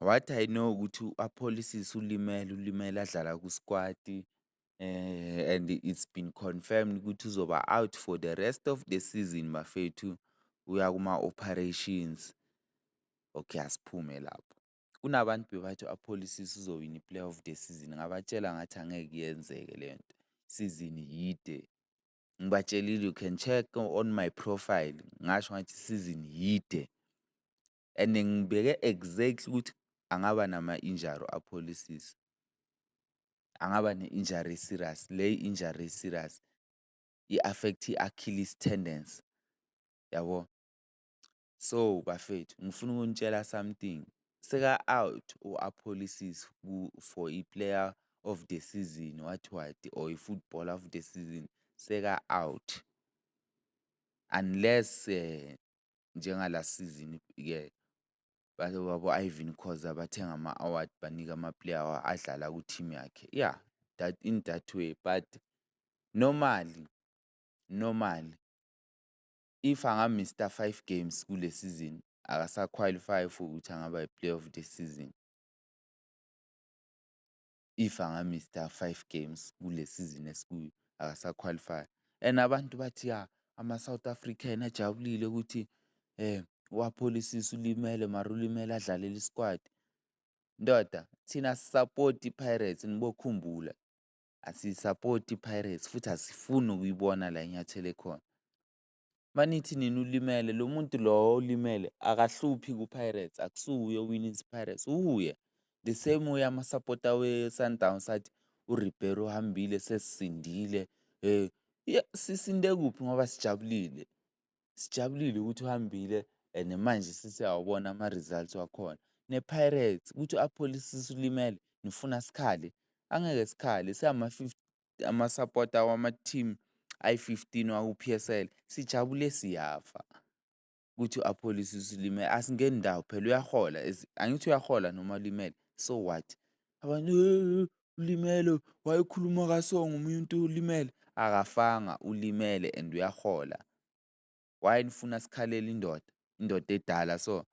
What I know ukuthi u-Apholisis ulimele, ulimele adlala kusikwati and it's been confirmed ukuthi uzoba out for the rest of the season bafethu, uya kuma-operations. Okay, asiphume lapho. Kunabantu bebathi u-Apholisis uzowina i-player of the season, ngabatshela ngathi angeke yenzeke le nto, isizini yide. Ngibatshelile you can check on my profile, ngasho ngathi isizini yide. and ngibheke exactly ukuthi angaba nama-injury apholisise. Angaba ne-injury e-serious, le injury e-serious i-affect i-achilles tendons, yabo? So, bafethu ngifuna ukunitshela something, seka-out u-apholisise for i-player of the season what what or i-football of the season, seka-out unless . njengala sizini ke babo-Irvin Khoza bathenga ama-award banika ama-player adlala ku-team yakhe. Yeah, that in that way but normally, normally if angamista five games kule sizini akasakhwalifai for ukuthi angaba yi-player of the season. if angamista five games kule sizini esikuyo akasakhwalifai. And abantu bathi ya ama-South African ajabulile ukuthi wapholisisa ulimele mara ulimele adlalele isikwadi. Ndoda thina sisapoti i-Pirates nibokhumbula asiyisapoti i-Pirates futhi asifuni ukuyibona la inyathele khona. manithi nina ulimele lo muntu lowo olimele akahluphi ku-Pirates akusuye owinisa i-Pirates uye the same way amasapota we-Sundowns athi uRibeiro uhambile sesisindile um sisinde kuphi ngoba sijabulile sijabulile ukuthi uhambile and manje sesiyawabona ama-results wakhona ne-Pirates ukuthi apholise ulimele nifuna sikhale angeke sikhale siyama-fifty amasapota wama-team ayi-fifteen waku-P_S_L sijabule siyafa ukuthi u-Aphollis usulimele asingeni ndawo phela uyahola angithi uyahola noma ulimele so what? Abantu ulimele wayekhuluma kaso ngomuntu ulimele akafanga ulimele and uyahola. Why nifuna sikhalele indoda, indoda edala so,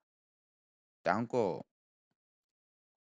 danko.